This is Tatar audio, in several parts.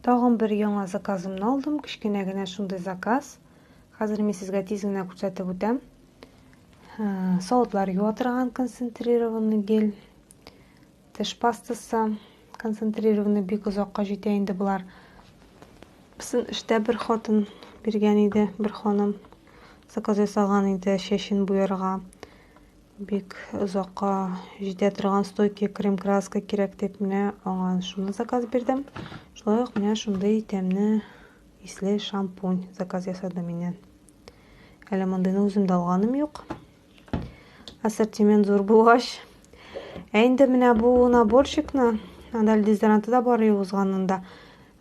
Тагын бер яңа заказымны алдым. Кечкенә генә шундый заказ. Хәзер мин сезгә тиз генә күрсәтеп үтәм. Ә, савытлар юа торган концентрированный гель. Теш пастасы концентрированный бик озакка җитә инде болар. Бисен эштә бер хатын биргән иде, бер ханым заказ ясаган иде чәчен буярга. Бик озакка җитә торган стойкий крем-краска кирәк дип менә аңа шуны заказ бирдем. Шулай ук менә шундый тәмне исле шампунь заказ ясады миннән. Әле мондыйны үзем дә алганым юк. Ассортимент зур булгач. Ә инде менә бу наборчикны, анда дезодоранты да бар юзганында.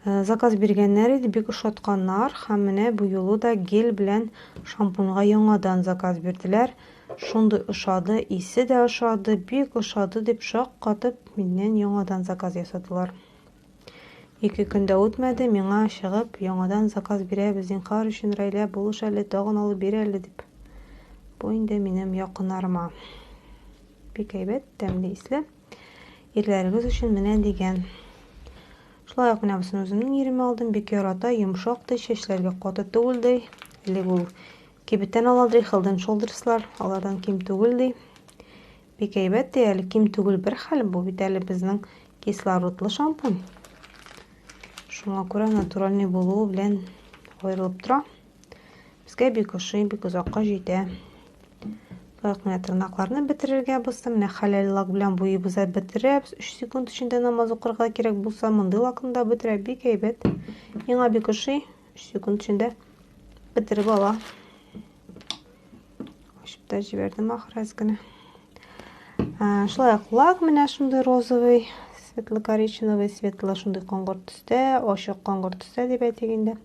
Заказ биргәннәр иде, бик ошатканнар һәм менә бу юлы да гель белән шампуньга яңадан заказ бирделәр. Шундый ошады, исе дә ошады, бик ошады дип шаккатып миннән яңадан заказ ясадылар. Ике көн дә үтмәде, миңа чыгып, яңадан заказ бирәбез, зинхар өчен, Рәйлә, булыш әле, тагын алып бир әле, дип. Бу инде минем якыннарыма. Бик әйбәт, тәмле, исле. Ирләрегез өчен менә дигән. Шулай ук менә бусын үземнең иремә алдым, бик ярата, йомшак ди, чәчләргә каты түгел ди. Элек ул кибеттән ала ди, Хелден Шолдерслар, алардан ким түгел ди. Бик әйбәт ди, әле ким түгел бер хәл, бу бит әле безнең кислородлы шампунь. Шуңа күрә натуральный булуы белән аерылып тора. Безгә бик ошый, бик озакка җитә. Таяк менә тырнакларны бетерергә булса, менә хәләл лак белән буебыз да бетерәбез. 3 секунд эчендә намаз укырга кирәк булса, мондый лакны да бетерә, бик әйбәт. Миңа бик ошый, 3 секунд эчендә бетереп ала. Ачып та җибәрдем ахыр әз генә. Шулай ук лак менә шундый розовый, светло-коричневый, светло шундый коңгырт төстә, ачык коңгырт төстә дип әйтик инде.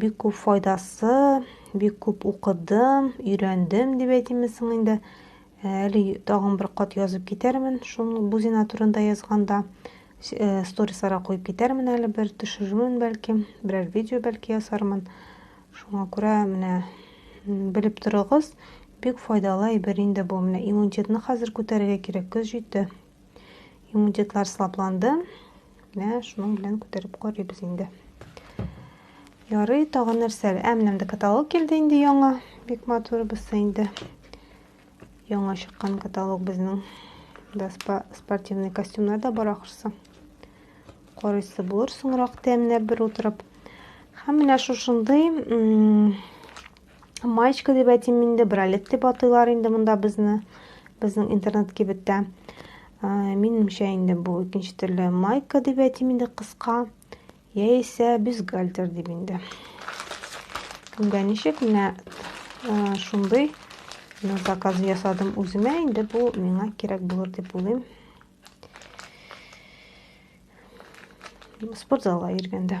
Бик күп файдасы, бик күп укыдым, өйрәндем дип әйтимме соң инде. Э, әле тагын бер кат язып китәрмен, шул бузина турында язганда э, сторисларга куеп китәрмен әле бер төшерермен бәлки, берәр видео бәлки ясармын. Шуңа күрә менә белеп торыгыз, бик файдалы әйбер инде бу. Менә иммунитетны хәзер күтәрергә кирәк, көз җитте. Иммунитетлар сылапланды. Менә шуның белән күтәреп карыйбыз инде. Ярый, тагын нәрсәләр? Ә менә монда каталог килде инде яңа. Бик матур булса инде. Яңа чыккан каталог безнең. Да спортивный костюмнар да бар ахрысы. Карыйсы булыр соңрак тәмләп бер утырып. Һәм менә шушындый Маечка дип әйтим инде, бралет дип атыйлар инде монда безне, безнең интернет-кибеттә. Минемчә инде бу икенче төрле майка дип әйтим инде кыска, яисә бюстгальтер дип инде. Күнгә ничек, менә шундый мин заказ ясадым үземә, инде бу миңа кирәк булыр дип уйлыйм. Спортзалга йөргәндә.